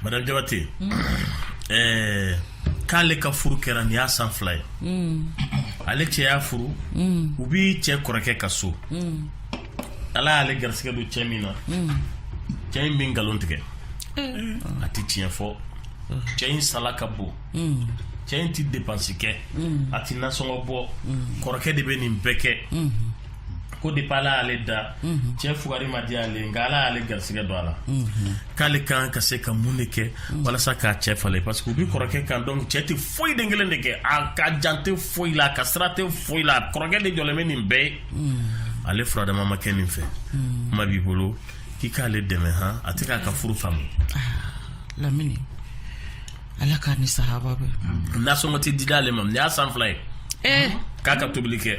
Madame Diabaté unhun ɛɛ k'ale ka furu kɛra nin y'a san 2 ye unn ale cɛ y'a furu unn u bi cɛ kɔrɔkɛ ka so unn Ala y'ale garisigɛ don cɛ min na unn cɛ in bi nkalon tigɛ ee a ti tiɲɛ fɔ cɛ in sala ka bon cɛ in tɛ depansi kɛ a tɛ nasɔngɔ bɔ kɔrɔkɛ de bɛ nin bɛɛ kɛ ko de ala y'ale da cɛ fugari man di ale nka ala y'ale garisigɛ don a la k'ale kan ka se ka mun de kɛ walasa k'a cɛ falen parce que u bɛ kɔrɔkɛ kan dɔrɔn cɛ tɛ foyi den kelen de kɛ a ka jate tɛ foyi la a ka sira tɛ foyi la kɔrɔkɛ de jɔlen bɛ nin bɛɛ ye ale furadamama ma kɛ nin fɛ kuma b'i bolo k'i k'ale dɛmɛ a tɛ k'a ka furu faamu ah, lamini ala k'a ni sahaba bɛn nasɔngɔ tɛ dida ale ma nin y'a san fila ye eh. k'a ka tobili kɛ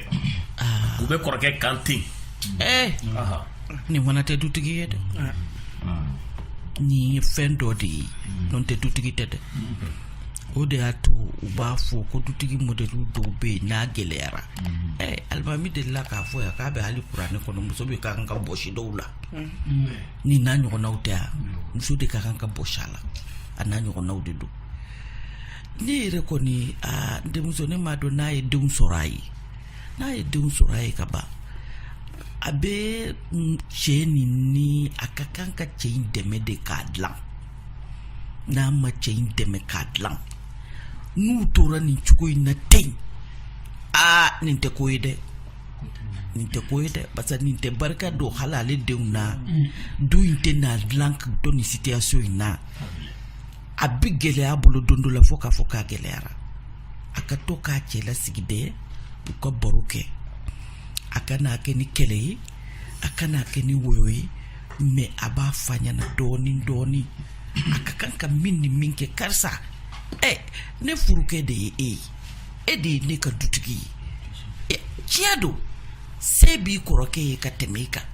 ah. u bɛ kɔrɔkɛ kan ten eh. nin fana tɛ dutigi ye dɛ ah. nin ye fɛn dɔ de ye n'o tɛ dutigi tɛ dɛ o de y'a to u b'a fɔ ko dutigi mɔdɛli dɔw bɛ yen n'a gɛlɛyara eh, alimami delila k'a fɔ yan k'a bɛ hali kuranɛ kɔnɔ muso bɛ ka kan ka bɔsi dɔw la nin n'a ɲɔgɔnnaw tɛ wa muso de ka kan ka bɔsi a la a n'a ɲɔgɔnnaw de don ne yɛrɛ kɔni aa denmuso ne m'a dɔn n'a ye denw sɔrɔ a ye n'a ye denw sɔrɔ a ye ka ban a bɛ cɛ nin ni a ka kan ka cɛ in dɛmɛ de k'a dilan n'a ma cɛ in dɛmɛ k'a dilan n'u tora nin cogo in na ten aa nin tɛ ko ye dɛ nin tɛ ko ye dɛ parce que nin tɛ barika don hali ale denw na du in tɛna dilan dɔ ni situation in na a bɛ gɛlɛya bolo don dɔ la fo k'a fɔ k'a gɛlɛyara a ka to k'a cɛ lasigi dɛ u ka baro kɛ a kan'a kɛ ni kɛlɛ ye a kan'a kɛ ni woyo ye mais a b'a f'a ɲɛna dɔɔnin dɔɔnin a ka kan ka min ni min kɛ karisa ɛ ne furukɛ de ye e ye e de ye ne ka dutigi ye e, tiɲɛ don se b'i kɔrɔkɛ ye ka tɛmɛ i kan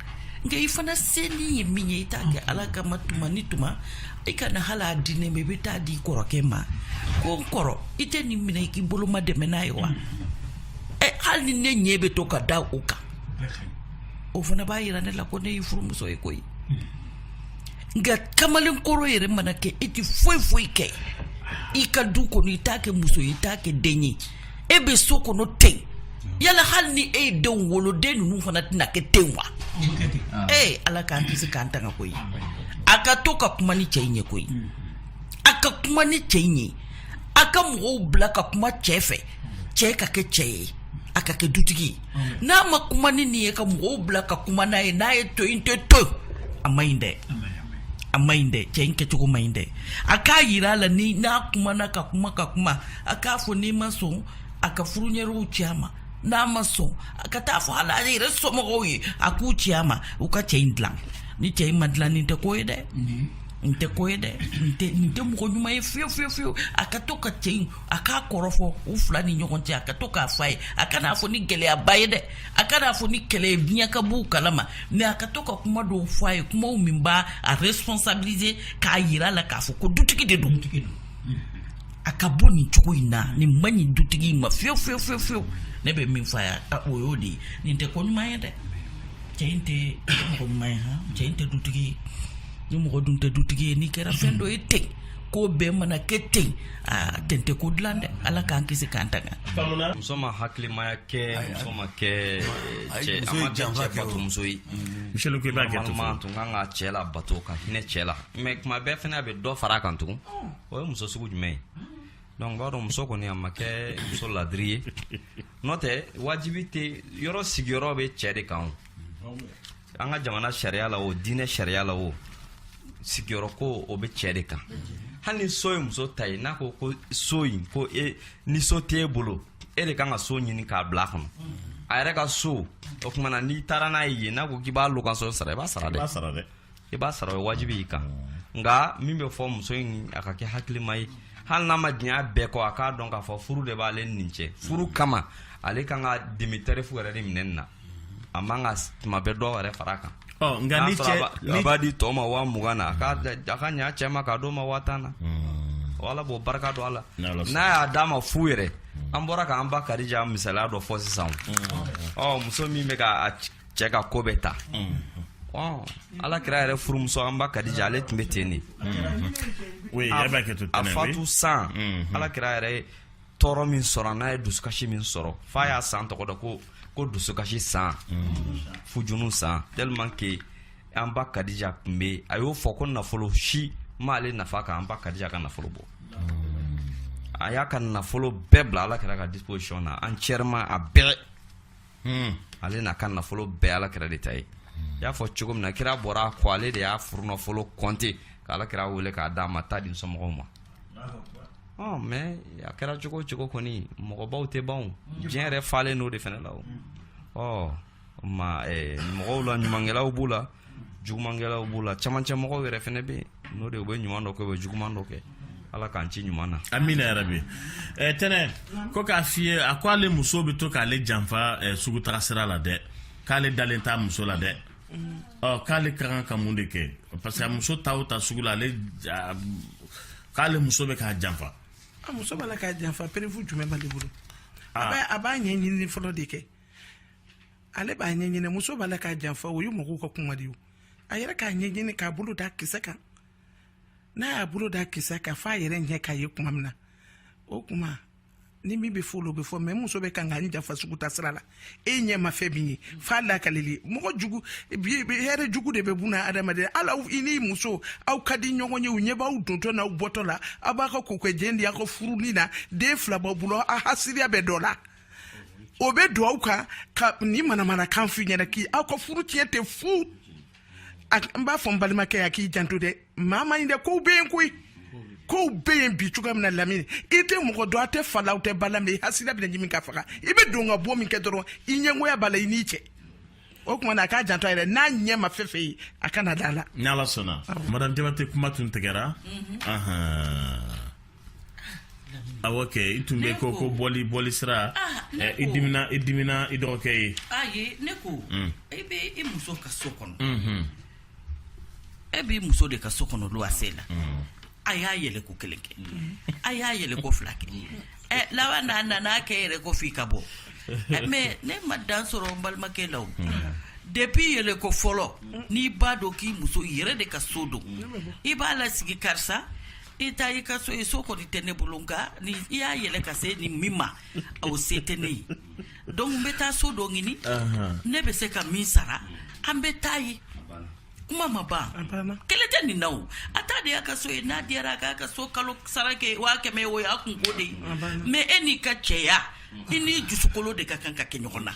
nka i fana senin ye min ye i t'a kɛ ala kama tuma ni tuma i kana hali a di ne ma i bɛ taa di kɔrɔkɛ ma ko n kɔrɔ i tɛ nin minɛ i k'i bolomadɛmɛ n'a ye wa ɛ hali ni ne ɲɛ bɛ to ka da o kan o fana b'a yira ne la ko ne y'i furumuso ye koyi nka kamalenkɔrɔ yɛrɛ mana kɛ e tɛ foyi foyi kɛ i ka du kɔnɔ i t'a kɛ muso ye i t'a kɛ den ye e bɛ so kɔnɔ ten yala hali ni e ye denw wolo den ninnu fana tɛna kɛ ten wa ee eh, ala k'an kisi k'an tanga koyi a ka to ka kuma ni cɛ in ye koyi a ka kuma ni cɛ in ye a ka mɔgɔw bila ka kuma cɛ fɛ cɛ ka kɛ cɛ ye a ka kɛ dutigi ye n'a ma kuma ni nin ye ka mɔgɔw bila ka kuma n'a ye n'a ye to in tɛ to a man ɲi dɛ a man ɲi dɛ cɛ in kɛcogo man ɲi dɛ a k'a yira a la ni n'a kumana ka kuma ka kuma a k'a fɔ n'i ma sɔn a ka furuseerew ci a ma n'a ma sɔn a ka taa fɔ hali a yɛrɛ somɔgɔw ye a k'u ci a ma u ka cɛ in dilan ni cɛ in ma dilan nin tɛ ko ye dɛ nin tɛ ko ye dɛ nin tɛ mɔgɔ ɲuman ye fiyewu fiyewu fiyewu a ka to ka cɛ in a k'a kɔrɔ fɔ u fila ni ɲɔgɔn cɛ a ka to k'a fɔ a ye a kan'a fɔ ni gɛlɛyaba ye dɛ a kan'a fɔ ni kɛlɛ ye diɲɛ ka bɔ u kalama mais a ka to ka kuma dɔw fɔ a ye kuma min b'a responsabiliser k'a yira a la k'a fɔ ko dutigi de don dutigi don a ka bɔ nin cogo in na nin man ɲi dutigi in ma fiyewu fiyewu fiyewu fiyewu ne bɛ min fɔ a ye o y'o de ye nin tɛ ko ɲuman ye dɛ cɛ in tɛ mɔgɔ ɲuman ye han cɛ in tɛ dutigi ye ni mɔgɔ dun tɛ dutigi ye n'i kɛra fɛn dɔ ye ten ko bɛɛ mana kɛ ten aa ten tɛ ko dilan dɛ ala k'an kisi k'an tanga muso ma hakilimaya kɛ muso ma kɛ cɛ a ma kɛ cɛ bato muso ye miselu ko i b'a kɛ to man tun kan ka cɛ labato ka hinɛ cɛ la mais tuma bɛɛ fana a bɛ dɔ fara a kan tugun o ye muso sugu jumɛn ye donc b'a dɔn muso kɔni a ma kɛ muso ladiri ye n'o tɛ wajibi tɛ yɔrɔ sigiyɔrɔ bɛ cɛ de kan o an ka jamana sariya la o diinɛ sariya la o sigiyɔrɔ ko o bɛ cɛ de kan hali ni so ye muso ta ye n'a ko ko so in ko e ni so tɛ e bolo e de kan ka so ɲini k'a bila a kɔnɔ a yɛrɛ ka so o tuma na n'i taara n'a ye yen n'a ko k'i b'a location sara i b'a sara dɛ i b'a sara o ye wajibi y'i kan nka min bɛ fɔ muso in a ka kɛ hakilima ye hali n'a man di a ye bɛɛ kɔ a k'a dɔn k'a fɔ furu de b'ale ni nin cɛ furu kama ale kan ka demi tarif yɛrɛ de minɛ nin na a man kan tuma bɛɛ dɔ yɛrɛ fara a kan nka ni cɛ a b'a di tɔw ma waa mugan na a ka ɲa cɛ ma k'a d'o ma waa tan na hmm. ala b'o barika don a la n'a y'a d'a ma fu yɛrɛ hmm. an bɔra k'an ba kadija misaliya dɔ fɔ sisan hmm. ɔ muso min b'a ka cɛ ka ko bɛɛ ta ala kira yɛrɛ furumuso an ba kadija ale tun bɛ ten de a fatu san ala kira yɛrɛ tɔɔrɔ min sɔrɔ an'a ye dusukasi min sɔrɔ f'a y'a san tɔgɔ da ko ko dusukasi san huzunu san tellement que an ba kadija tun bɛ a y'o fɔ ko nafolo si m'ale nafa ka an ba kadija ka nafolo bɔ a y'a ka nafolo bɛɛ bila ala kira ka disposition na entièrement a bɛɛ hmm. ale n'a ka nafolo bɛɛ ala kira de ta ye i y'a fɔ cogo min na kira bɔra a kɔ ale de y'a furunafolo kɔnte ka ala kira wele k'a d'a ma taa di somɔgɔw ma ɔ mais a kɛra cogo cogo kɔni mɔgɔbaw tɛ ban diɲɛ yɛrɛ falen n'o de fana la o ɔ ma mɔgɔw la ɲumankɛlaw b'u la jugumankɛlaw b'u la camancɛ mɔgɔw yɛrɛ fana bɛ yen n'o de u bɛ ɲuman dɔ kɛ u bɛ juguman dɔ kɛ ala k'an ci ɲuman na amina yarabi eh, tɛnɛ ko k'a f'i ye a ko ale muso bɛ to k'ale janfa eh, sugu taga sira la dɛ k'ale dalen t'a muso la dɛ ɔ k'ale ka kan ka mun de kɛ parce que a muso taa o taa sugu la ale k'ale muso bɛ k'a janfa a muso b'a la k'a janfa preuve jumɛn b'ale bolo ah. a b'a ɲɛɲini fɔlɔ de kɛ ale b'a ɲɛɲini muso b'a la k'a janfa o ye mɔgɔw ka kuma de ye a yɛrɛ k'a ɲɛɲini k'a bolo da kisɛ kan n'a y'a bolo da kisɛ kan f'a yɛrɛ ɲɛ k'a ye kuma min na o kuma ni min bɛ fɔ olu bɛ fɔ mais muso bɛ kan ka n janfa sugu taa sira la e ɲɛ ma fɛn min ye f'a lakalili mɔgɔ jugu hɛrɛ jugu de bɛ bunadamadenya la i ni muso aw ka di ɲɔgɔn ye u ɲɛ b'aw dontɔ n'aw bɔtɔ la aw b'a ka ko kɛ jɛn di aw ka furuni na den fila b'aw bolo aw hasidiya bɛ dɔ la o bɛ don aw kan ka nin manamanakan f'i ɲɛna k'aw ka furu tiɲɛ ten fu n b'a fɔ n balimakɛ ye a k'i janto dɛ maa ma ɲi dɛ kow bɛ yen koyi kow bɛ yen bi cogoya min na lamini i tɛ mɔgɔ dɔn a tɛ fa la a tɛ ba la mais i hasidi bɛna ɲimi ka faga i bɛ don ka bɔ min kɛ dɔrɔn i ɲɛngoya b'a la i n'i cɛ o tuma na a k'a janto a yɛrɛ n'a ɲɛ ma fɛn fɛn ye a kana da a la ni ala sɔnna madame jabate kuma tun tigɛra Awɔ kɛ i tun bɛ ko ko boli boli sira i dimina i dimina i dɔgɔkɛ ye a ye ne ko e bɛ e muso ka so kɔnɔ e bɛ muso de ka so kɔnɔ don a sen la a y'a yɛlɛ ko kelen kɛ a y'a yɛlɛ ko fila kɛ a laban n'a nana a kɛ yɛrɛ ko f' i ka bɔ mais ne ma dan sɔrɔ n balimakɛ la depuis i yɛlɛ ko fɔlɔ n'i b'a dɔn k'i muso yɛrɛ de ka so don i b'a lasigi karisa i ta y'i ka so ye so kɔni tɛ ne bolo nka ni i y'a yɛlɛ ka se ni min ma o se tɛ ne ye donc n bɛ taa so dɔ ɲini ne bɛ se ka min sara an bɛ taa yen kuma ma ban kelen tɛ nin na o a ta de y'a ka so ye n'a diyara a k'a ka so kalo sara kɛ waa kɛmɛ o y'a kunko de ye mais e n'i ka cɛya i n'i dusukolo de ka kan ka kɛ ɲɔgɔn na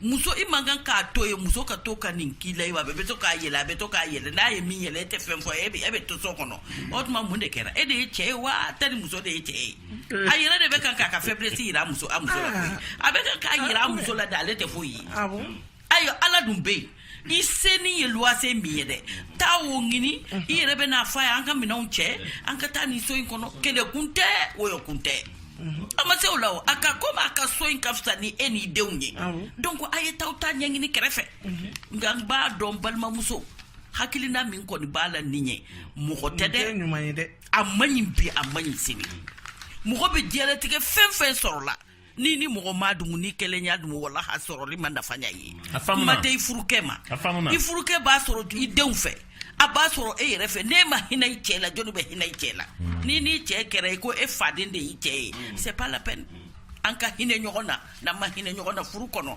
muso i man kan k'a to i muso ka to ka nin k'i la ayiwa a bɛ to k'a yɛlɛ a bɛ to k'a yɛlɛ n'a ye min yɛlɛ e tɛ fɛn fɔ e bɛ e bɛ to so kɔnɔ o tuma mun de kɛra e de ye cɛ ye wa a tɛ ni muso de ye cɛ ye a yɛrɛ de bɛ kan k'a ka faiblesse jira a muso a muso la koyi a bɛ kan k'a jira a muso la dɛ ale tɛ foyi ye ayiwa Ala dun bɛ yen i senni ye luwase min ye dɛ taa o ɲini i yɛrɛ bɛ n'a fɔ a ye an ka minɛnw cɛ an ka taa nin so in kɔnɔ kɛlɛkun tɛ wɔyɔkun tɛ a ma se o la o a ka komi a ka so in ka fisa ni e n'i denw ye donc a ye taa aw ta ɲɛɲini kɛrɛfɛ nka n b'a dɔn balimamuso hakilina min kɔni b'a la nin ye mɔgɔ tɛ dɛ a man ɲi bi a man ɲi sini mɔgɔ bɛ diɲɛlatigɛ fɛn fɛn sɔrɔ la n'i ni mɔgɔ m'a dumu n'i kelen y'a dumu wala a sɔrɔli ma nafa ɲɛ i ye kuma tɛ i furukɛ ma i furukɛ b'a sɔrɔ i denw fɛ a b'a sɔrɔ e yɛrɛ fɛ n'e ma hinɛ i cɛ la jɔnni bɛ hinɛ i cɛ la mm. n'i n'i cɛ kɛra i ko e faden de y'i cɛ ye mm. c'est pas la peine an ka hinɛ ɲɔgɔn na n'an ma hinɛ ɲɔgɔn na furu kɔnɔ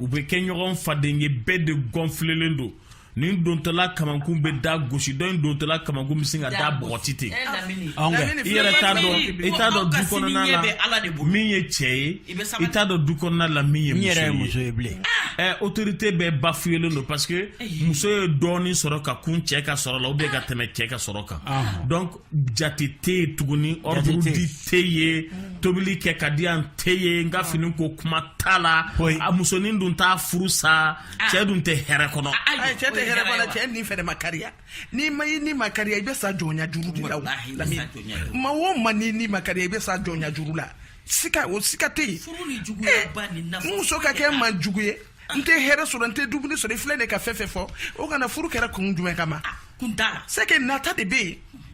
u bɛ kɛ ɲɔgɔn fadenkɛ bɛɛ de gɔnfilelen don nin dontɔla kamankun bɛ da gosi dɔ in dontɔla kamankun bɛ sin ka da bɔgɔti ten i yɛrɛ t'a dɔn i t'a dɔn du kɔnɔna la min ye cɛ ye i t'a dɔn du kɔnɔna la min ye muso ye bilen ɛ otorite bɛɛ bafuyelen don parce que muso ye dɔɔnin sɔrɔ ka kun cɛ ka sɔrɔ la u bɛ ka tɛmɛ cɛ ka sɔrɔ kan donc jate tɛ yen tuguni ordre di tɛ yen tobili kɛ ka di yan tɛ yen n ka fini ko kuma t'a la a musonin dun t'a furu sa cɛ dun tɛ hɛrɛ kɔnɔ cɛ tɛ hɛrɛ kɔnɔ cɛ ni fɛnɛ ma kariya n'i ma i ni ma kariya i bɛ sa jɔnya juru de la maa o maa n'i ni ma kariya i bɛ sa jɔnya juru la sika o sika tɛ yen muso ka kɛ maa jugu ye n tɛ hɛrɛ sɔrɔ n tɛ dumuni sɔrɔ i filɛ de ka fɛn fɛn fɔ o kana furu kɛra kun jumɛn kama ah, kun t'a la c'est que nata de bɛ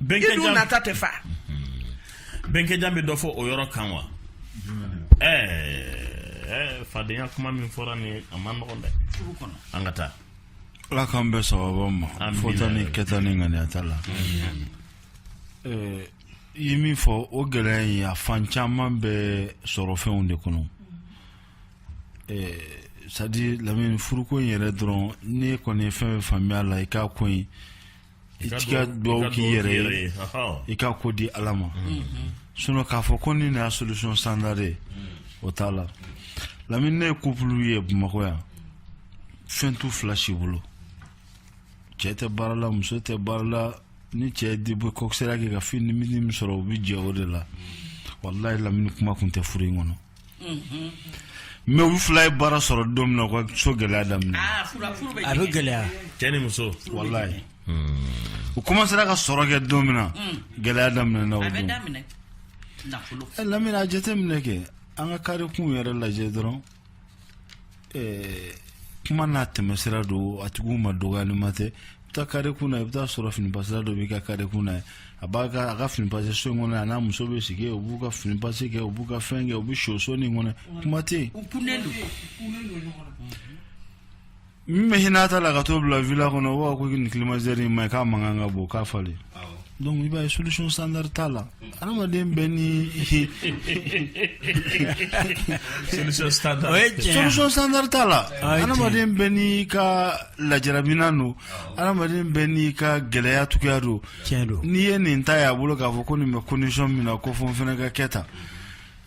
yen i dun nata tɛ fa mhm. bɛnkɛjan bɛ dɔ fɔ o yɔrɔ kan wa ɛɛ eh, eh, fadenya kuma min fɔra nin a man nɔgɔn dɛ an ka taa ala k'an bɛɛ sababa ma fɔta ni kɛta ni ŋaniya t'a la eh, i ye min fɔ o gɛlɛya in a fan caman bɛ sɔrɔ fɛnw de kɔnɔ ɛɛ sadi lamini furuko in yɛrɛ dɔrɔn ne kɔni ye fɛn faamuya la i ka ko in i ka dugawu k'i yɛrɛ ye i ka ko di ala ma sinɔn k'a fɔ ko nin na solution standard o t'a la lamini ne ye kupulu ye bamakɔ yan fɛn t'u fila si bolo cɛ tɛ baara la muso tɛ baara la ni cɛ de bɛ kɔkisɛra kɛ ka fɛnnin min sɔrɔ u bɛ jɛ o de la walayi lamini kuma kun tɛ furu in kɔnɔ Mɛ u fila ye baara sɔrɔ don min na u ka so gɛlɛya daminɛ a bɛ gɛlɛya cɛ ni muso wala u kɔmansera ka sɔrɔ kɛ don min na gɛlɛya daminɛna lamini a jate minɛ kɛ an ka karikun yɛrɛ lajɛ dɔrɔn Ɛɛ kuma n'a tɛmɛ sira don a tigi ma dɔgɔlima tɛ i bɛ taa kare kun na i bɛ t'a sɔrɔ fini pasira dɔ b'i ka kare kun na a b'a a ka fini pase so in kɔnɔ a n'a muso bɛ sigi u b'u ka fini pase kɛ u b'u ka fɛn kɛ u bɛ soso nin kɔnɔ kuma tɛ min bɛ i n'a ta la ka t'o bila vila kɔnɔ wa ko nin kilimatizɛri in ma k'a mankan ka bon k'a falen Donc i b'a ye solution standard t'a la adamaden bɛɛ ni solution standard o ye tiɲɛ ye solution standard t'a la Ah, i adamaden bɛɛ n'i ka lajarabinan don adamaden bɛɛ n'i ka gɛlɛya cogoya don tiɲɛ don n'i ye nin ta y'a bolo k'a fɔ ko nin bɛ condition min na ko fo n fana ka kɛ tan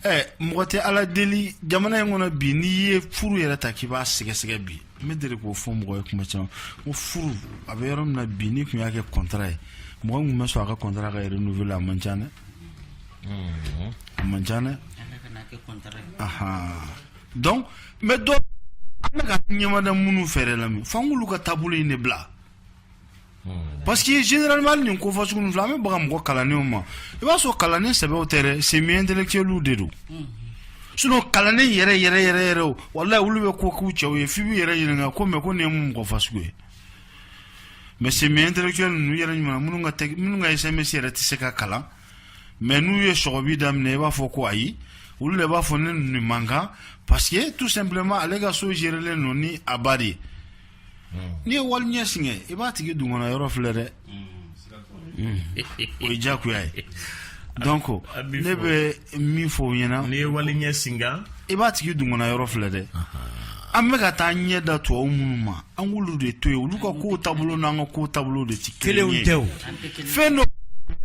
Ɛ mɔgɔ tɛ ala deli jamana in kɔnɔ bi n'i ye furu yɛrɛ ta k'i b'a sɛgɛsɛgɛ bi n bɛ deli k'o fɔ mɔgɔ ye kuma caman ko furu a bɛ yɔrɔ min na bi n'i tun y'a kɛ kɔntara ye mɔgɔ tun bɛ sɔn a ka kɔntara ka yɛrɛ n'u a man ca dɛ a man ca dɛ donc n bɛ donc an bɛ ka ɲɛmada minnu fɛɛrɛ la fan olu ka taabolo in de bila Parce que généralement nin ko fɔ sugu fila bɛ bɔ an mɔgɔ kalannenw ma i b'a sɔrɔ kalannen sɛbɛ tɛ sen kelen de don s kalannen yɛrɛ yɛrɛ yɛrɛ yɛrɛ o wala olu bɛ ko k'u cɛw ye f'i b'i yɛrɛ ɲininka mais ko nin ye mɔgɔ fa sugu ye mais sen kelen ninnu yɛrɛ ɲuman minnu minnu ka ɛsɛmɛsi yɛrɛ tɛ se ka kalan mais n'u ye sbi daminɛ i b'a fɔ ko ayi olu de b'a fɔ ne nin mankan parce que tout simplement ale ka so zlen ninnu ni abari ye n'i ye wali ɲɛ singa i b'a tigi dungɔna yɔrɔ filɛ dɛ o ye diyagoya ye donc ko ne bɛ min fɔ o ɲɛna n'i ye wali ɲɛ singa i b'a tigi dungɔna yɔrɔ filɛ dɛ an bɛ ka taa ɲɛ da tubabu minnu ma an k'olu de to yen olu ka kow taabolo n'an ka kow taabolo de tɛ kelen ye tɛ o fɛn dɔ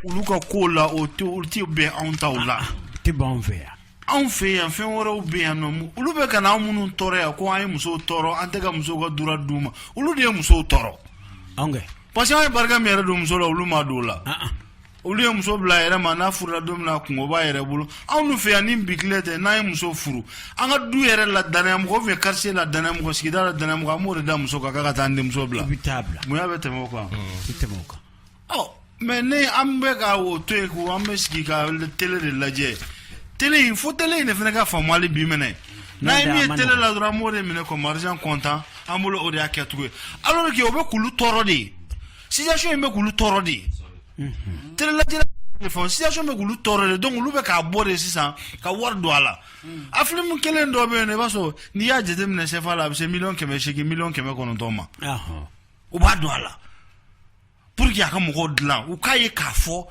olu ka kow la o tɛ olu tɛ bɛn anw taw la tɛ b'an fɛ yan anw fɛ yan fɛn wɛrɛw bɛ yan nɔ olu bɛ ka anw minnu tɔɔrɔ yan ko an ye musow tɔɔrɔ an tɛ ka musow ka droit d'u ma olu de ye musow tɔɔrɔ anw tɛ parce que an ye barika min yɛrɛ don muso la olu ma don o la ah, ah. olu ye muso bila yɛrɛ ma n'a furula don min na kunko b'a yɛrɛ bolo anw fɛ yan ni bi tile tɛ n'an ye muso furu an ka du yɛrɛ la danaya mɔgɔ fɛ karisa la danaya mɔgɔ sigida la danaya mɔgɔ an b'o de da muso kan ka taa an denmuso bila i bɛ t'a bila mun y'a bɛ tɛmɛ o kan i tɛmɛ o kan ɔ mais n'an bɛ ka o to yen ko an bɛ sigi ka tele de lajɛ tele in fo tele in de fana ka faamuyali bi minɛ n'an ye min ye tele la dɔrɔn an b'o de minɛ ko marijan kɔntan an bolo o de y'a kɛcogo ye alors que o bɛ k'olu tɔɔrɔ de ye situation in bɛ k'olu tɔɔrɔ de ye tele lajɛ fɔ situation bɛ k'olu tɔɔrɔ de donc olu bɛ k'a bɔ de sisan ka wari don a la a filimu kelen dɔ bɛ yen nɔ i b'a sɔrɔ n'i y'a jateminɛ sɛfa la a bɛ se miliyɔn kɛmɛ seegin miliyɔn kɛmɛ kɔnɔntɔn ma u b'a don a la pour que a ka mɔgɔw dilan u k'a ye k'a fɔ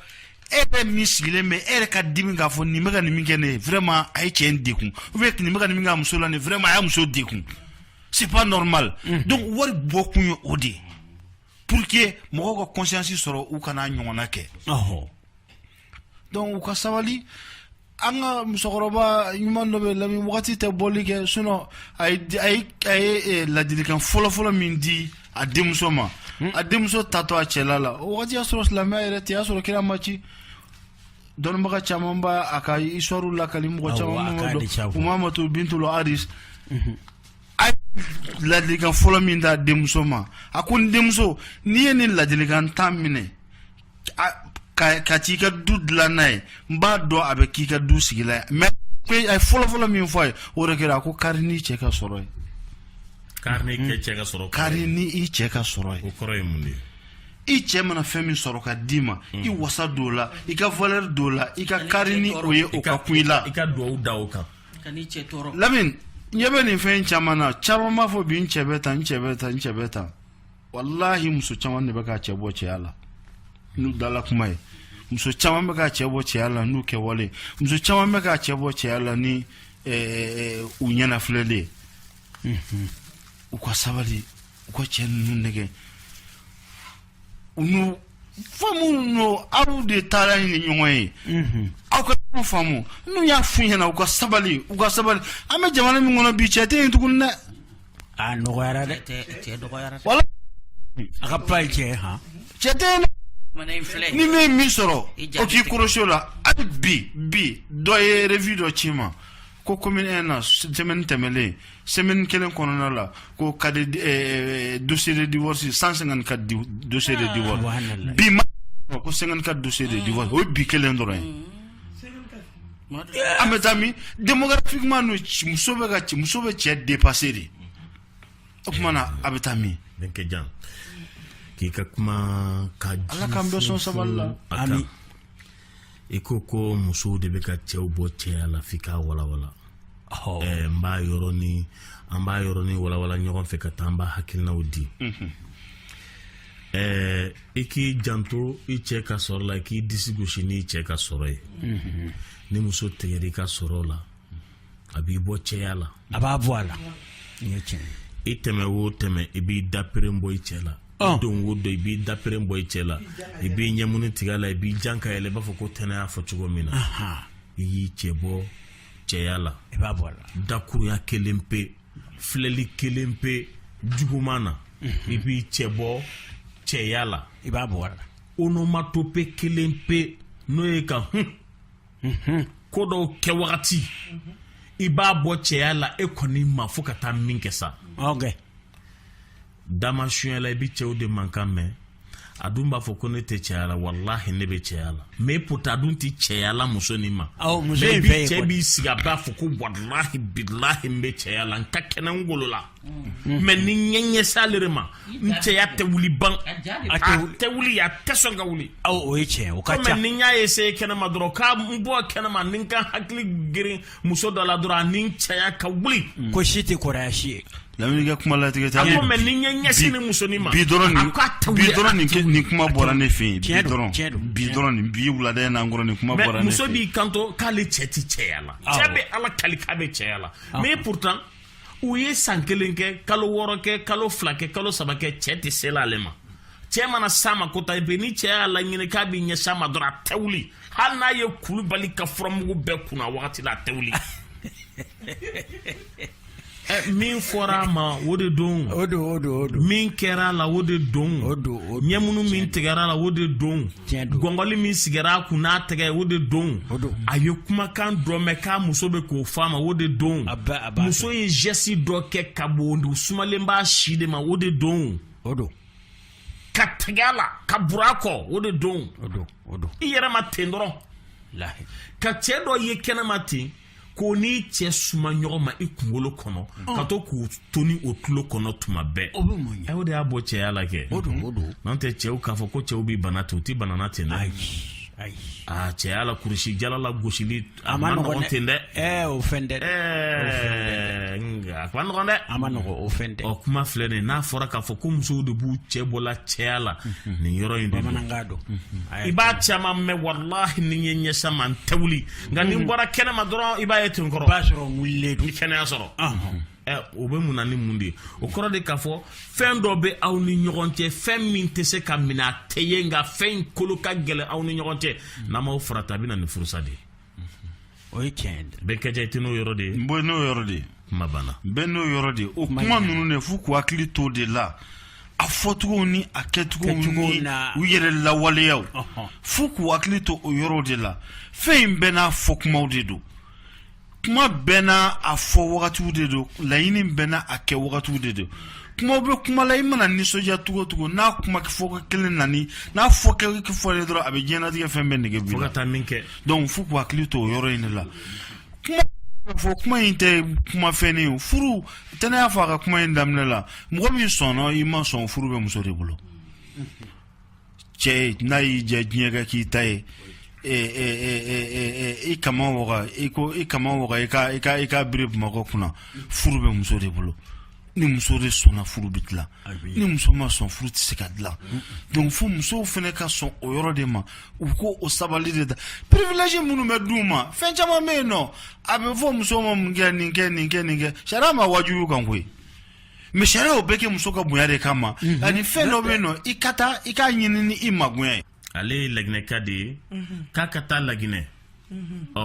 e yɛrɛ min sigilen bɛ e yɛrɛ ka dimi k'a fɔ nin bɛ ka nin min kɛ nin vraiment a ye cɛ in dɛgun ou bien nin bɛ ka nin min kɛ a muso la nin vraiment a y'a muso dɛgun c'est pas normal donc wari bɔ kun ye o de ye pour que mɔgɔw ka conscience sɔrɔ u kan'a ɲɔgɔnna kɛ ɔhɔ dɔnku u ka sabali an ka musokɔrɔba ɲuman dɔ bɛ lamini wagati tɛ bɔli kɛ sunɔ a ye eh, ladilikan fɔlɔfɔlɔ min di a denmuso ma hmm. a denmuso tatɔ a cɛla la o wagati y'a sɔrɔ silamɛya yɛrɛ tɛ y'a sɔrɔ kira ma ci dɔnnibaga caman b'a a ka histoire lakali mɔgɔ caman dɔn umamatu bintul haris mhm. a ladilikan fɔlɔ min d'a denmuso ma a ko n denmuso n'i ye nin ladilikan tan minɛ Ka taa i ka du dila n'a ye n b'a dɔn a bɛ k'i ka du sigilan ye fɔlɔfɔlɔ min fɔ a ye o de kɛra a ko kari n'i cɛ ka sɔrɔ ye kari ni i cɛ ka sɔrɔ ye kɔrɔ ye mun de ye i cɛ mana fɛn min sɔrɔ ka d'i ma hmm. i wasa don a la i ka valeur don a la i ka kari ni o ye o ka kun i la i ka dugawu da o kan lamini ɲɛ bɛ nin fɛn caman na caman b'a fɔ bi n cɛ bɛ tan n cɛ bɛ tan n cɛ bɛ tan walahi muso caman de bɛ ka cɛ bɔ cɛya la n'u dala kuma ye muso caman bɛ ka cɛ bɔ cɛya la n'u kɛwale muso caman bɛ ka cɛ bɔ cɛya la ni eh, eh, u ɲɛnafilɛli ye mhm. u ka sabali u ka cɛ ninnu nɛgɛn u n'u faamu aw de taara ni ɲɔgɔn ye mhm. aw ka ɲɔgɔn faamu n'u y'a f'u ɲɛna u ka sabali u ka sabali an bɛ jamana min kɔnɔ bi cɛ tɛ yen tuguni dɛ a dɔgɔyara dɛ cɛ dɔgɔyara wala a ka pa ye cɛ ye han cɛ tɛ yen dɛ ni min ye min sɔrɔ o k'i kɔrɔsi o la hali bi bi dɔ ye revue dɔ ci n ma ko commune un na semaine tɛmɛlen semaine kelen kɔnɔna la ko kadi dossier de divorce 154 dossier de divorce bi ma ko 54 dossier de divorce o ye bi kelen dɔrɔn ye an bɛ taa min démographiquement non muso bɛ ka muso bɛ cɛ dépasser de o tuma na a bɛ taa min donc jan k'i ka kuma kan ala k'an bɛɛ sɔn sabali la ami i ko ko musow de bɛ ka cɛw bɔ cɛya la f'i k'a walawala ɛɛ n b'a yɔrɔnin an b'a yɔrɔnin walawala ɲɔgɔn fɛ ka taa an b'a hakilinaw di mhm. ɛɛ i k'i janto i cɛ ka sɔrɔ la i k'i disi gosi n'i cɛ ka sɔrɔ ye mhm. ni muso tigɛra i ka sɔrɔ la a b'i bɔ cɛya la a b'a bɔ a la i tɛmɛ wo tɛmɛ i b'i daperen bɔ i cɛ la ah. don wo don i b'i daperen bɔ i cɛ la i b'i ɲɛmuni tigɛ a la i b'i jan ka yɛlɛ i b'a fɔ ko tɛnɛ y'a fɔ cogo min na i y'i cɛ bɔ cɛya la i b'a bɔ a la dakuruya kelen pe filɛli kelen pe juguman na mhm. i b'i cɛ bɔ cɛya la i b'a bɔ a la onomatopée kelen pe n'o ye ka hun ko dɔw kɛ wagati i b'a bɔ cɛya la e kɔni ma fo ka taa min kɛ sa dama sunyɛ la i bɛ cɛw de mankan mɛn a dun b'a fɔ ko ne tɛ cɛya la walahi ne bɛ cɛya la mais pourtant a dun tɛ cɛya la muso nin ma mɛ bi cɛ b'i sigi a b'a fɔ ko walahi bilahi n bɛ cɛya la n ka kɛnɛ n golo la Mm. mais ni n ye n ɲɛsin ale de ma n cɛya tɛ wuli ban a tɛ wuli a tɛ sɔn ka wuli o ye tiɲɛ o ka ca ni n y'a ye se kɛnɛma dɔrɔn k'a n bɔ kɛnɛma ni n ka hakili girin muso dɔ la dɔrɔn ani n cɛya ka wuli mm. ko si tɛ kɔrɔya si ye lamini kɛ kuma latigɛ tɛ ye mais ni n ye n ɲɛsin nin muso nin ma bi dɔrɔn nin bi dɔrɔn nin nin kuma bɔra ne fɛ yen bi dɔrɔn bi dɔrɔn nin bi wulada in n'an kɔrɔ nin kuma bɔra ne fɛ yen muso b'i kanto k'ale cɛ ti cɛya la cɛ bɛ ala kali k'a bɛ cɛya la mais pourtant u ye san kelen kɛ kalo wɔɔrɔ kɛ kalo fila kɛ kalo saba kɛ cɛ tɛ sela ale ma cɛ mana s'a ma kota i bɛ ni cɛ y'a laɲini k'a b'i ɲɛsin a ma dɔrɔn a tɛ wuli hali n'a ye Kulubali ka furamugu bɛɛ kunu a wagati la a tɛ wuli min fɔra a ma o de don min kɛra a la o de don ɲɛmunu min tigɛra a la o de don gɔngɔli min sigira a kun na a tɛgɛ o de don a ye kumakan dɔ mɛn k'a muso bɛ k'o f'a ma o de don muso ye jɛsi dɔ kɛ ka bon sumalen b'a si de ma o de don ka tɛgɛ a la ka bura a kɔ o de don i yɛrɛ ma ten dɔrɔn ka cɛ dɔ ye kɛnɛma ten k'o n'i cɛ suma ɲɔgɔn ma i kunkolo kɔnɔ ka to k'u to ni o tulo kɔnɔ tuma bɛɛ o bɛ mun ɲɛ aw de y'a bɔ cɛya la kɛ o don o don n'an tɛ cɛw k'a fɔ ko cɛw bɛ bana ten u tɛ bana na ten dɛ ayi ayi aa cɛya la kurusijala lagosili a ma nɔgɔn ten dɛ ɛɛ o fɛn tɛ dɛ ɛɛ nka a ma nɔgɔn dɛ a ma nɔgɔn o fɛn tɛ ɔ kuma filɛ nin ye n'a fɔra k'a fɔ ko musow de b'u cɛ bɔla cɛya la nin yɔrɔ in de don bamanankan don i b'a caman mɛn walahi ni n ye n ɲɛsin a ma n tɛ wuli nka n'i bɔra kɛnɛma dɔrɔn i b'a ye ten kɔrɔ b'a sɔrɔ wulilen don ni kɛnɛya sɔrɔ o bɛ mun na ni mun de ye o kɔrɔ de k'a fɔ fɛn dɔ bɛ aw ni ɲɔgɔn cɛ fɛn min tɛ se ka minɛ a tɛ ye nka fɛn in kolo ka gɛlɛn aw ni ɲɔgɔn cɛ n'aw m'aw farati a bɛ na ni furusa de ye o ye tiɲɛ ye bɛɛ kɛjɛ i tɛ n'o yɔrɔ de ye n bɔ n'o yɔrɔ de ye bɛɛ n'o yɔrɔ de o kuma ninnu de fo k' hakili to de la a fɔcogo ni a kɛcogo u yɛrɛ lawaleya fo k'u hakili to o yɔrɔ de la fɛn in bɛɛ n'a fɔ kuma de don kuma bɛɛ n' a fɔ wagatiw de don laɲini bɛɛ n' a kɛ wagatiw de don kuma bɛ kuma la i mana nisɔndiya cogo o cogo n'a kuma fɔ kelen nani n'a fɔ fɔ dɔrɔn a bɛ diɲɛnatigɛ fɛn bɛɛ nɛgɛ ka taa min kɛ donc fo k'u hakili to o yɔrɔ in de la kuma fɔ kuma in tɛ kuma fɛn ye furu tɛnɛ y'a fɔ a ka kuma in daminɛ la mɔgɔ min sɔnna i ma sɔn furu bɛ muso de bolo cɛ n'a y'i diya diɲɛ ka kɛ i ta ye i kaman waga i ko i kaman waga i ka i ka i ka biri bamakɔ kunna furu bɛ muso de bolo ni muso de sɔnna furu bɛ dilan ni muso ma sɔn furu tɛ se ka dilan donc fo musow fana ka sɔn o yɔrɔ de ma u k'o sabali de ta privilège minnu bɛ d'u ma fɛn caman bɛ yen nɔ a bɛ fɔ muso ma mun kɛ nin kɛ nin kɛ nin kɛ sariya m'a wajibi a kan koyi mais sariya y'o bɛɛ kɛ muso ka bonya de kama ani fɛn dɔ bɛ yen nɔ i ka taa i k'a ɲini ni i magaya ye ale ye laginɛka de ye k'a ka taa laginɛ ɔ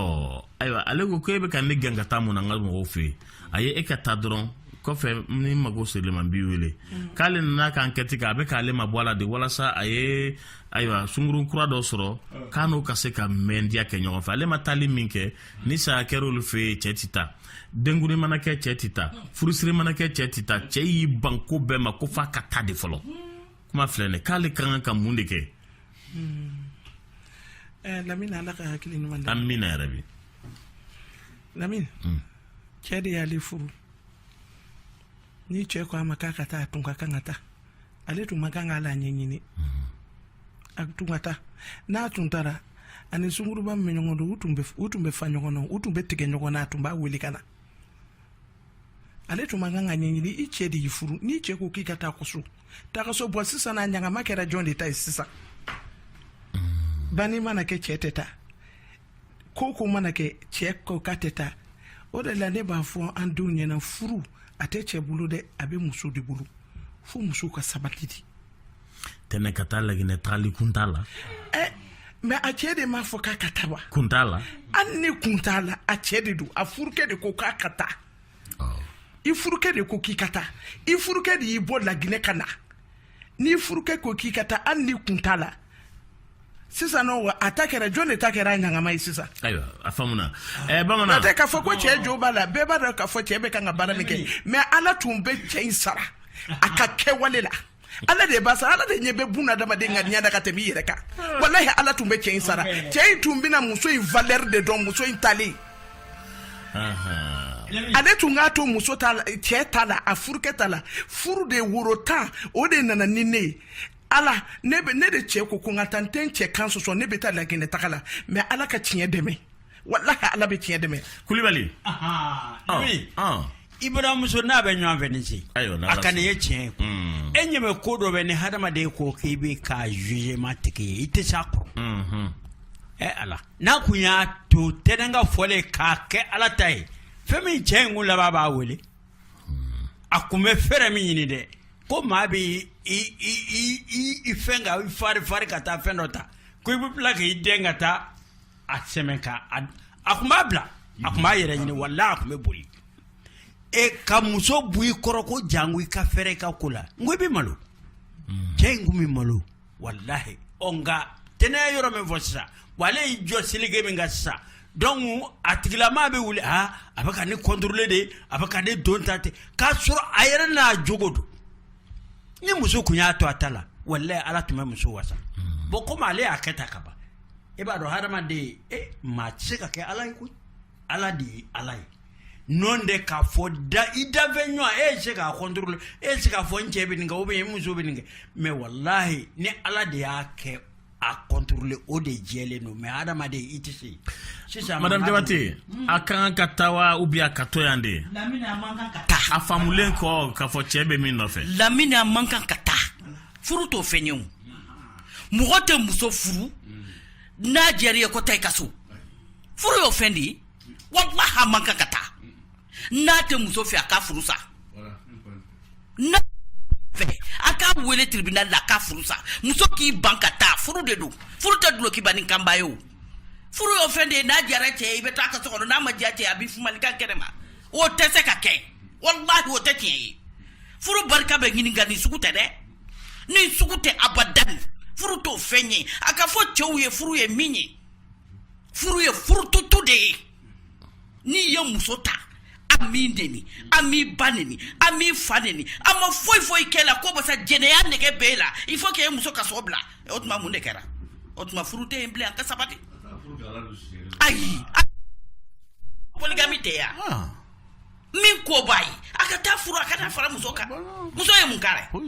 ayiwa ale ko ko e bɛ ka ne gɛn ka taa mun na n ka mɔgɔw fɛ yen a ye e ka taa dɔrɔn kɔfɛ ni mago ser'i ma n b'i wele k'ale nana ka enquête kɛ a bɛ k'ale mabɔ a la de walasa a ye ayiwa sunkurun kura dɔ sɔrɔ k'a n'o ka se ka mɛndiya kɛ ɲɔgɔn fɛ ale ma taali min kɛ ni saya kɛra olu fɛ yen cɛ tɛ taa denkundi mana kɛ cɛ tɛ taa furusiri mana kɛ cɛ tɛ taa cɛ y'i ban ko bɛɛ ma ko f'a ka taa de fɔlɔ kuma filɛ dɛ k'ale ka kan ka mun de kɛ eh, lamini ala ka hakili ɲuman d'a ma amina yarabi lamini hmm. cɛ de y'ale furu ni cɛ ko a ma k'a ka taa a tun ka kan ka taa ale tun man kan k'a la ɲɛɲini hmm. a tun ka taa n'a tun taara a ni sunkurunba min bɛ ɲɔgɔn dɔn u tun bɛ fa ɲɔgɔn na u tun bɛ tigɛ ɲɔgɔn na a tun b'a wele ka na ale tun man kan k'a ɲɛɲini i cɛ de y'i furu n'i cɛ ko k'i ka taa ka so taa ka so bon sisan n'a ɲagama kɛra jɔn de ta ye sisan banni mana kɛ cɛ tɛ taa ko o ko mana kɛ cɛ ko k'a tɛ taa o de la ne b'a fɔ an denw ɲɛna furu a tɛ cɛ bolo dɛ a bɛ muso de bolo fo muso ka sabati de tɛnɛ ka taa laginɛ taali kun t'a la eh, mais a cɛ de m'a fɔ k'a ka taa wa kun t'a la hali ni kun t'a la a cɛ de don a furukɛ de ko k'a ka taa oh. i furukɛ de ko k'i ka taa i furukɛ de y'i bɔ laginɛ ka na n'i furukɛ ko k'i ka taa hali ni kun t'a la sisan n'o wa a ta kɛra jɔn de ta kɛra ɲangama ye sisan ayiwa a faamuna ɛɛ bamanan n'o tɛ k'a fɔ ko cɛ jo b'a la bɛɛ b'a dɔn k'a fɔ cɛ bɛ ka baara min kɛ mɛ ala tun bɛ cɛ in sara a ka kɛwale la ala de b'a sara ala de ɲɛ bɛ bun adamaden ka ɲɛ da ka tɛmɛ i yɛrɛ kan walahi ala tun bɛ cɛ in sara cɛ in tun bɛna muso in valeur de dɔn muso in talen ale tun k'a to muso ta la cɛ ta la a furukɛ ta la furu de woro tan o de nana ni ne ye ala ne ne de cɛ ko ko n ka taa n tɛ n cɛ kan sɔsɔ ne bɛ taa laginɛ taga la mɛ ala ka tiɲɛ dɛmɛ walahi ala bɛ tiɲɛ dɛmɛ kulibali i baramuso n'a bɛ ɲɔgɔn fɛ ni ce a ka nin ye tiɲɛ ye hmm. e ɲɛ bɛ ko dɔ bɛ ni hadamaden ko k'i bɛ kɛ jugement tigi ye i tɛ se a kɔrɔ hmm. ɛ eh, ala n'a kun y'a to tɛnɛn ka fɔlen k'a kɛ ala ta ye fɛn min cɛ in kun laban b'a wele a tun bɛ fɛrɛ min ɲini dɛ ko maa bɛ fɛn ka farifari ka taa fɛn dɔ ta ko i bɛ bila k' i dɛn ka taa a sɛmɛ a tun b'a bila a tun b'a yɛrɛ ɲini wala a tun bɛ boli e ka muso bɔ i kɔrɔ ko janko i ka fɛrɛ i ka ko la n ko i bɛ malo cɛ in tun bɛ malo walahi ɔ nka tɛnɛn y'a yɔrɔ min fɔ sisan wa ale y'i jɔ seleke min kan sisan donc a tigilamaa bɛ wuli aa a bɛ ka ne kɔntorole de a bɛ ka ne don ta ten k'a sɔrɔ a yɛrɛ n'a jogo don ni muso tun y'a to a ta la walayi ala tun bɛ muso wasa bɔn komi ale y'a kɛ ta ka ban e b'a dɔn hadamaden e maa tɛ se ka kɛ ala ye koyi ala de ye ala ye n'o tɛ k'a fɔ da i danfɛn ɲɔgɔn e ye se k'a kɔntorole e se k'a fɔ n cɛ bɛ nin kɛ o bɛ muso bɛ nin kɛ mɛ walahi ni ala de y'a kɛ a kɔntorole o de jɛlen don mɛ adamaden i tɛ se sisan madame jabate hmm. a ka kan ka taa wa ou bien a ka to yan de a faamulen kɔ k'a fɔ cɛ bɛ min nɔfɛ lamini a man kan ka taa furu t'o fɛn ye o mɔgɔ tɛ muso furu n'a diyar'i ye ko taa i ka so furu y'o fɛn de ye walahi a man kan ka taa n'a tɛ muso fɛ a ka furu sa fɛ a k'a wele tribunal la a ka furu sa muso k'i ban ka taa furu de don furu tɛ dulokiba ni kanba ye o furu y'o fɛn de ye n'a diyara cɛ ye i bɛ taa ka so kɔnɔ n'a ma diya cɛ a b'i fumalikan kɛnɛ ma o tɛ se ka kɛ walahi o tɛ tiɲɛ ye furu barika bɛ ɲini nka nin sugu tɛ dɛ nin sugu tɛ abadan furu t'o fɛn ye a ka fɔ cɛw ye furu ye min ye furu ye furututu de ye n'i ye muso ta a m'i neni a m'i ba neni a m'i fa neni a ma foyi foyi k'i la ko basa jɛnɛya nege b'e la il faut k'e muso ka so bila o tuma mun de kɛra o tuma furu tɛ yen bilen an ka sabati ayi poligami tɛ yan ah. min ko b'a ye a ka taa furu a ka taa fara muso kan muso ye mun k'a la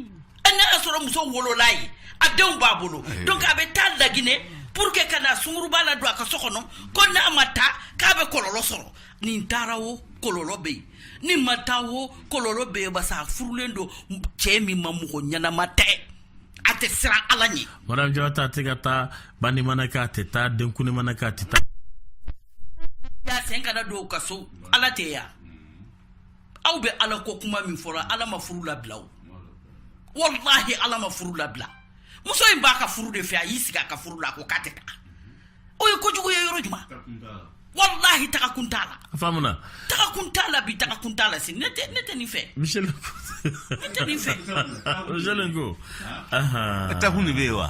n'a y'a sɔrɔ muso wolola ye a denw b'a bolo donc a bɛ taa laginɛ pour que ka na sunguruba ladon a ka so kɔnɔ ko n'a ma taa k'a bɛ kɔlɔlɔ sɔrɔ n'i taara o kɔlɔlɔ bɛ yen n'i ma taa o kɔlɔlɔ bɛ yen basa a furulen don cɛ min ma mɔgɔ ɲɛnama tɛ a tɛ siran ala ɲɛ madame jabate a tɛ ka taa banni mana kɛ a tɛ taa denkundi mana kɛ a tɛ taa y'a sen kana don u ka so ala tɛ yan aw bɛ ala ko kuma min fɔra ala ma furu labila o walahi ala ma furu labila muso in b'a ka furu de fɛ a y'i sigi a ka furu la a ko k'a tɛ taga o ye kojugu ye yɔrɔ jumɛn walahi taga kun t'a la a faamuna taga kun t'a la bi taga kun t'a la si ne tɛ ne tɛ nin fɛ michel ne tɛ nin fɛ michel ko taga kun de bɛ yen wa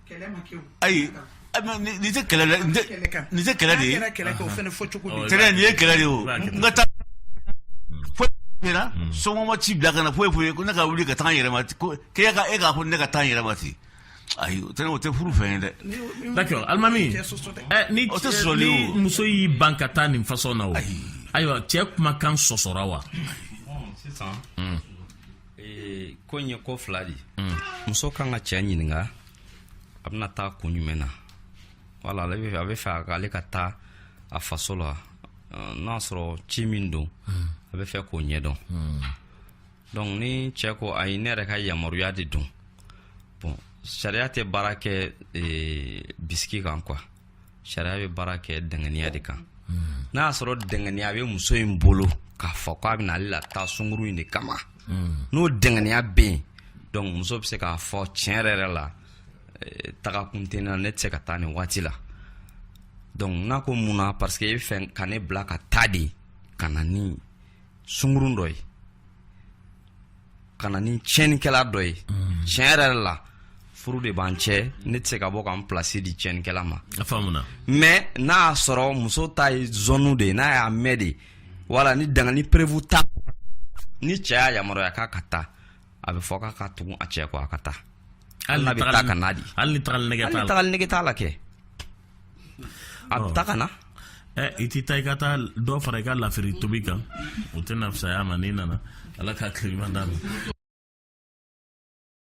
ayi nin tɛ kɛlɛ nin tɛ kɛlɛ de ye tɛnɛ nin ye kɛlɛ de o n ka taa kɛra sɔgɔma ci bila ka na foyi foyi ko ne ka wuli ka taa yɛrɛma ko k'e ka e k'a fɔ ne ka taa yɛrɛma ten ayi o tɛ o tɛ furu fɛn ye dɛ d'accord alimami ni o tɛ sɔrɔli o muso y'i ban ka taa nin fasɔn na o ayiwa cɛ kumakan sɔsɔra wa sisan ee ko in ye ko fila de mm. muso kan ka cɛ ɲininka a bɛna taa kun jumɛn na wala ale a bɛ fɛ ale ka taa a faso la n'a sɔrɔ ci min don mm. a bɛ fɛ k'o ɲɛdɔn mm. donc ni cɛ ko ayi ne yɛrɛ ka yamaruya de don bon sariya tɛ baara kɛ ee, bisigi kan quoi sariya bɛ baara kɛ danganiya de kan hmm. n'a y'a sɔrɔ danganiya bɛ muso in bolo k'a fɔ k'a bɛna ale lataa sungurun in de kama hmm. n'o danganiya bɛ yen donc muso bɛ se k'a fɔ tiɲɛ yɛrɛ yɛrɛ la eh, taga kun tɛ ne na ne tɛ se ka taa nin waati la donc n'a ko mun na parce que e bɛ fɛ ka ne bila ka taa de ka na ni sungurun dɔ ye ka na ni tiɲɛnikɛla dɔ ye mm. tiɲɛ yɛrɛ yɛrɛ la furu de b'an cɛ ne tɛ se ka bɔ ka n pilasi di tiɲɛnikɛla ma mais n'a y'a sɔrɔ muso ta ye zɔnu de ye n'a y'a mɛn de wala ni dangani preuve t'a ni cɛ y'a yamaruya k'a ka taa a bɛ fɔ k'a ka tugun a cɛ kɔ a ka taa hali n'a bɛ taa ka na de hali ni tagali nege t'a la kɛ a bɛ taa ka na ɛ i tɛ taa i ka taa dɔ fara i ka lafiri tobi kan o tɛna fisaya ma n'i nana ala ka hakili ɲuman d'an ma